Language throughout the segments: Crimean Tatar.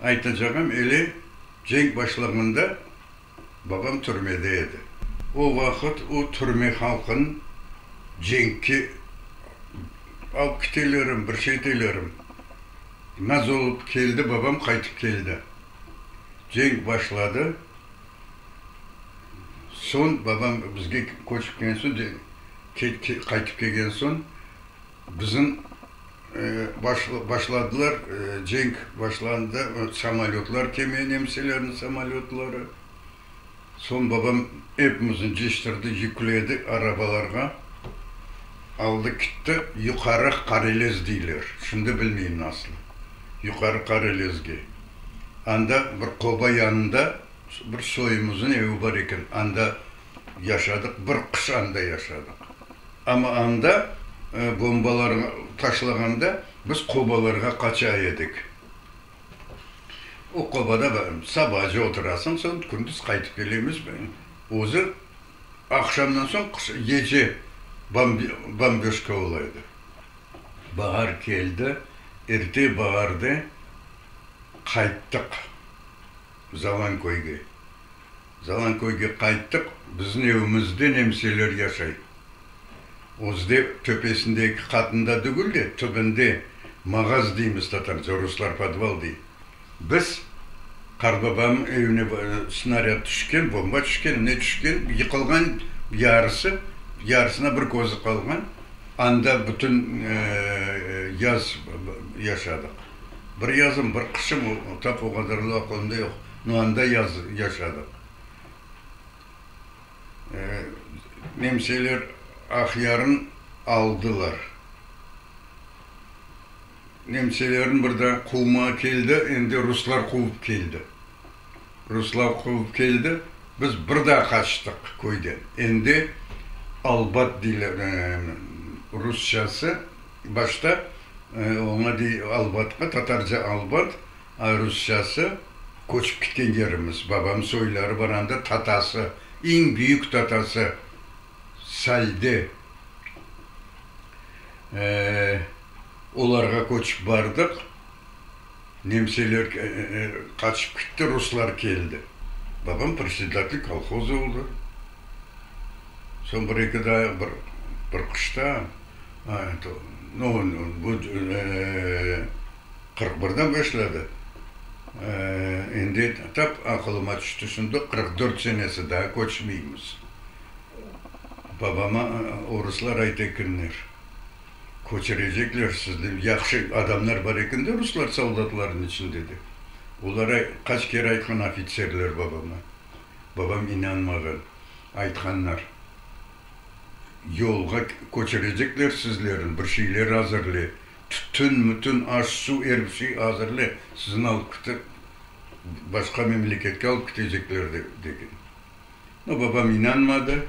Aytacağım, ele cenk başlağında babam türmede edi. O vaqıt o türme halqın cenkke alıp kitelerem, bir şey etelerem. Naz olıp keldi, babam qaytıp keldi. Cenk başladı. Soñ babam bizge köçüpken soñ, qaytıp kelgen soñ Bizim başladılar, cenk başlandı, samolötlar kemi, nemselerniñ samolötları. Soñ babam epimizni ciştirdi, yükledi arabalarğa, aldı kitti Yuqarı Qarelez deyler, şimdi bilmeyim nasıl, Yuqarı Qarelezge. Anda bir qoba yanında bir soyumıznıñ evi bar eken, anda. Yaşadıq, bir qış anda yaşadıq. Amma anda bombalar taşlağanda biz qobalarğa qaça edik. O qobada sabacı oturasıñ, soñ kündüz qaytıp kelemiz. Özü aqşamdan soñ gece bomböjka ola edi. Bahar keldi, erte baharda qayttıq. Zalanköyge. Zalanköyge qayttıq. Biziñ evimizde nemseler yaşay. Özde töpesinde eki qatında degil de, tübünde mağaz deymiz tatarca, ruslar podval dey. Biz qartbabamnıñ evine snaryad tüşken, bomba tüşken, ne tüşken, yıqılğan yarısı, yarısına bir közü qalğan. Anda bütün yaz yaşadıq. Bir yazım, bir qışım, tap o qadarlı aqlımda yoq, no anda yaşadıq. Nemseler Aqyarnı aldılar. Nemselerni bir daa quvmağa keldi, endi ruslar quvıp keldi. Ruslar quvıp keldi, biz bir daa qaçtıq köyden. Endi albat deyler rusçası, başta oña dey albatqa, tatarca albat, a rusçası köçip ketken yerimiz. Babam soyları bar anda, tatası, eñ büyük tatası Salde olarğa köçip bardıq. Nemseler qaçıp kitti, ruslar keldi. Babam predsedatelь kolhoz oldı. Soñ bir-eki daa bir bir qışta, eto, no bu qırq birden başladı, endi tap aqılıma tüşti, şunda qırq dört senesi daa köçmeymiz. Babama oruslar aytekenler. Köçürecekler sizni, yahşı adamlar bar eken de ruslar soldatlarnıñ içinde, dep, olara qaç kere aytqan ofitserler babama. Babam inanmağan. Aytqanlar, yolğa köçürecekler sizlerni, bir şeyler azırle, tütün, mütün, aş, suv, er bir şey azırle, sizni alıp ketip, başqa memleketke alıp ketecekler, degen. No, babam inanmadı,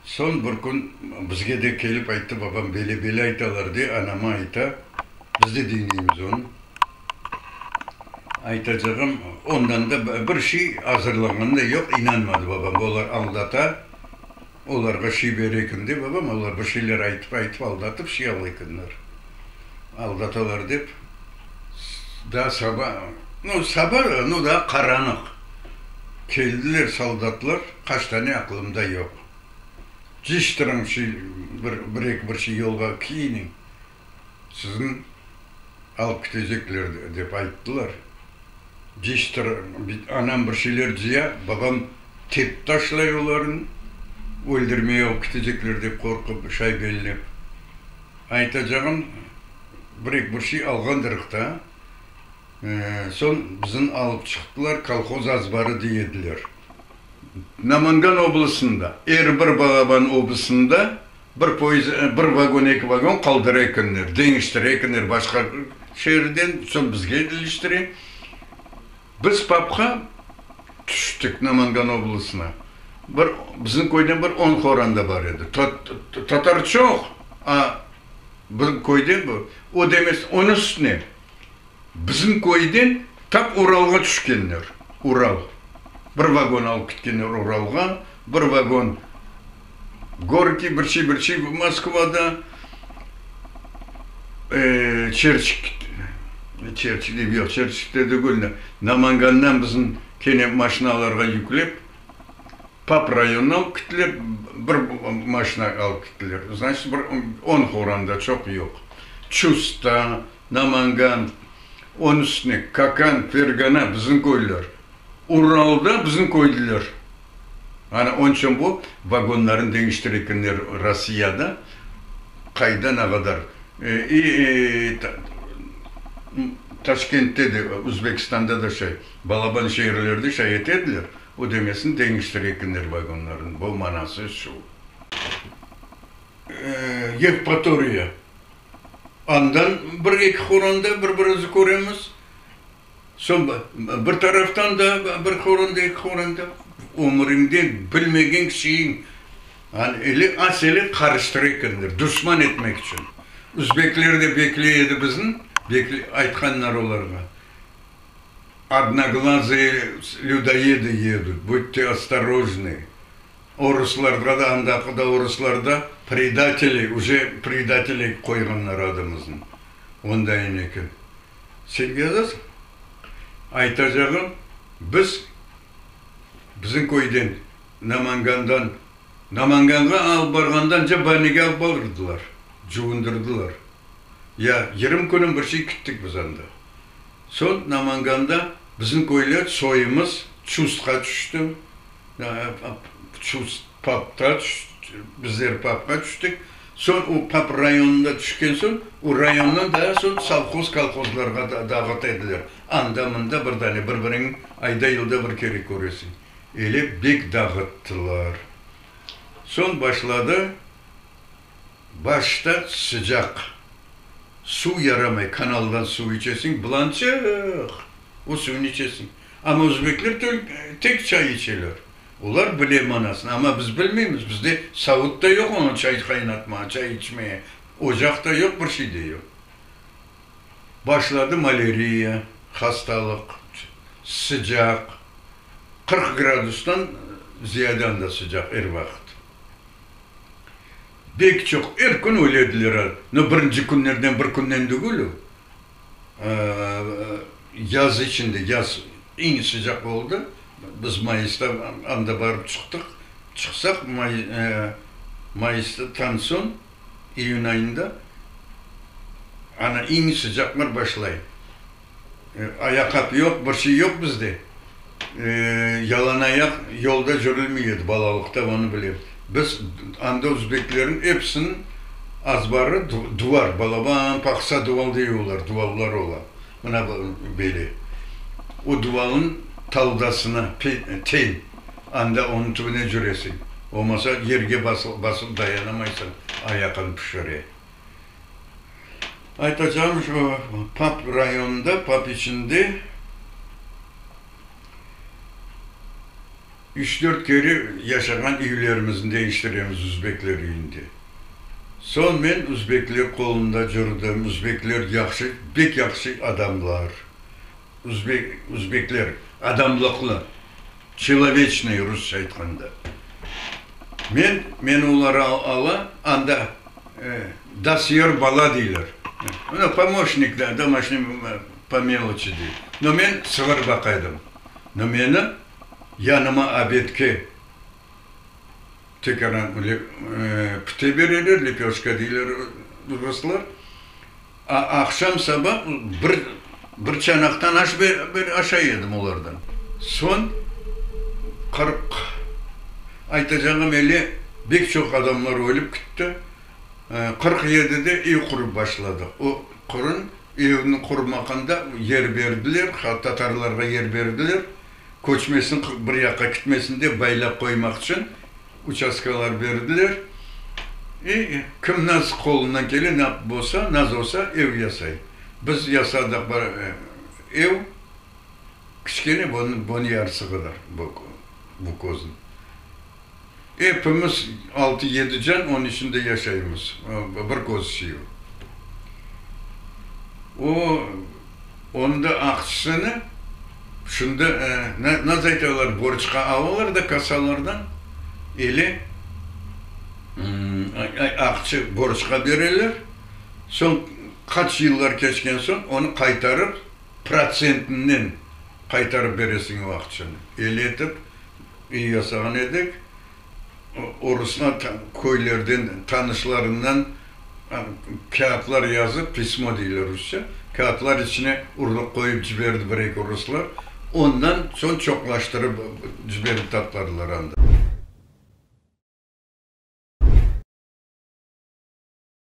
Soñ bir kün bizge de kelip ayttı, babam bele-bele aytalar, de, anama ayta, biz de diñleymiz onı. Aytacağım, ondan da bir şey azırlanğanı da yoq, inanmadı babam, olar aldata, olarğa şey bere eken, de, babam, olar bir şeyler aytıp-aytıp, aldatıp şey ala ekenler, aldatalar dep, daa saba, no, saba, no, daa qaranıq keldiler soldatlar. Qaç tane, aqılımda yoq. Ciştiriñ şu bir, bir-eki bir şey yolğa kiyiniñ, sizni alıp ketecekler, dep ayttılar. Ciştir, anam bir şeyler ciya, babam tepip taşlay olarnı, öldürmey alıp ketecekler dep qorqıp, şaybellep. Aytacağım, bir-eki bir şey alğandırıq da, soñ bizni alıp çıqtılar, kolhoz azbarı diy ediler. Namangan oblastında, er bir Balaban oblastında bir poezd, bir vagon, eki vagon qaldıra ekenler, deñiştire ekenler başqa şeerden, soñ bizge iliştire. Biz papqa tüştik Namangan oblastına. Bir, bizim köyden bir on qoran da bar edi. Tatar çoq, a bizim köyden bir, o da emes, onıñ üstüne. Bizim köyden tap Uralğa tüşkenler. Ural. Bir vagon alıp ketkenler Uralğa, bir vagon Gorkiy, bir şey, bir şey Moskvada Çerçik, Çerçik diyip, yoq, Çerçikte degil de, Namangandan bizim kene maşinalarğa yüklep, Pap rayonına alıp gittiler, bir maşina alıp gittiler. Znaçit, bir on horanda, çoq yoq. Çusta, Namangan, onıñ üstüne Kakan, Fergana, bizim köyler. Uralda bizim köyliler. Ana, onıñ içün bu vagonlarnı deñiştire ekenler Rossiyada, qayda ne qadar. İ, Taşkentte de, Özbekistanda da şey, balaban şeerlerde şayet ediler. Ödemesini deñiştirekenler vagonlarnıñ. Bu manası şu, Yevpatoriya, andan bir eki horanda bir-birizi köremiz, soñ bir taraftan da bir horanda, eki horanda, ömüriñde bilmegen kişiyiñ, ele asele qarıştıra ekenler, duşman etmek içün. Üzbekler de bekley edi bizni, aytqanlar olarğa. Odnoglazıye lüdoedi yedut, budte ostorojnıy, o ruslarga da, andaki da o ruslar da predateli, uje predatel etip qoyğanlar adımıznı. Onda ene kim? Sen yazasıñ. Aytacağım, biz, bizim köyden, Namangandan, Namanganğa alıp barğanda ance Baynege alıp barırdılar, cuvundırdılar. Ya yırım künüm bir şey küttik biz anda. Soñ Namanganda bizim köyler, soyumız çustqa tüşti. Çust papqa tüşti, bizler papqa tüştik. Soñ o pap rayonına tüşken soñ, o rayondan daa soñ sovhoz, kolhozlarğa dağıt ediler. Anda-mında bir dane, bir-biriñ ayda-yılda bir kere köresiñ. Öyle bek dağıttılar. Soñ başladı Başta sıcaq suv yaramay, kanaldan suv içesiñ, bılançıq o suvni içesiñ. Amma özbekler tek çay içeler. Olar bile manasını, amma biz bilmeymiz, bizde savut da yoq oña çay qaynatmağa, çay içmeye, ocaq da yoq, bir şey de yoq. Başladı maleriya, hastalıq, sıcaq, qırq gradustan ziyade anda sıcaq er vaqıt. Bek çoq, er kün ölediler al, no birinci künlerden bir künden degil o, yaz içinde, yaz eñ sıcaq oldı, biz mayısta anda barıp çıqtıq, çıqsaq mayısta tan soñ, iyün ayında ana eñ sıcaqlar başlay. Ayaqat yoq, bir şey yoq bizde. Yalanayaq yolda cürülmey edi balalıqta, onı bilem. Biz anda uzbekleriñ episiniñ azbarı duvar, balaban paqsa duval dey olar, duvallar ola, mına böyle. O duvalnıñ taldasına teñ, anda onıñ tübüne cüresiñ, olmasa yerge basıp dayanamaysıñ, ayaqıñ pişire. Aytacağım şu, PAP rayonında, PAP içinde üç-dört kere yaşağan üylerimizni değiştiremiz Uzbekler üyünde. Soñ men Uzbekler qolunda cürdim, Uzbekler yahşı, bek yahşı adamlar. Üzbekler adamlıqlı, çiloveçnıy rusça aytqanda. Men, meni olar ala, anda dosyer bala deyler. Mına pomoşnik da, domoşniy po meloçi dey. No men sığır baqaydım. No meni yanıma abedke teke pite bereler, lepyoşka deyler ruslar. Aqşam saba bir çanaqtan aş aşay edim olardan. Soñ qırq, aytacağım ele, bek çoq adamlar ölip kitti, qırq yedide ev qurıp başladıq. O qırın evni qurmaqında yer berdiler, tatarlarğa yer berdiler. Köçmesin, qırq bir yaqqa kitmesin dep baylap qoymaq içün uçastkalar berdiler. E, kim nasıl qolundan kele, ne bolsa, nasıl olsa ev yasay. Biz yasadıq bir ev, kiçkene, bunıñ yarısı qadar bu közniñ. Epimiz altı-yedi can onıñ içinde yaşaymız. Bir köz sıyır. O, onda aqçısını şunda, nasıl aytalar, borçqa alalar da kasalardan, ele aqçı borçqa bereler, soñ qaç yıllar keçken soñ onı qaytarıp, protsentinen qaytarıp beresiñ o aqçını. Ele etip. Üy yasağan edik. O ruslar köylerden, tanışlarından kâğıtlar yazıp, pismo deyler rusça, kâğıtlar içine urluq qoyıp ciberdi bir-eki ruslar. Ondan soñ çoqlaştırıp ciberip tapladılar anda.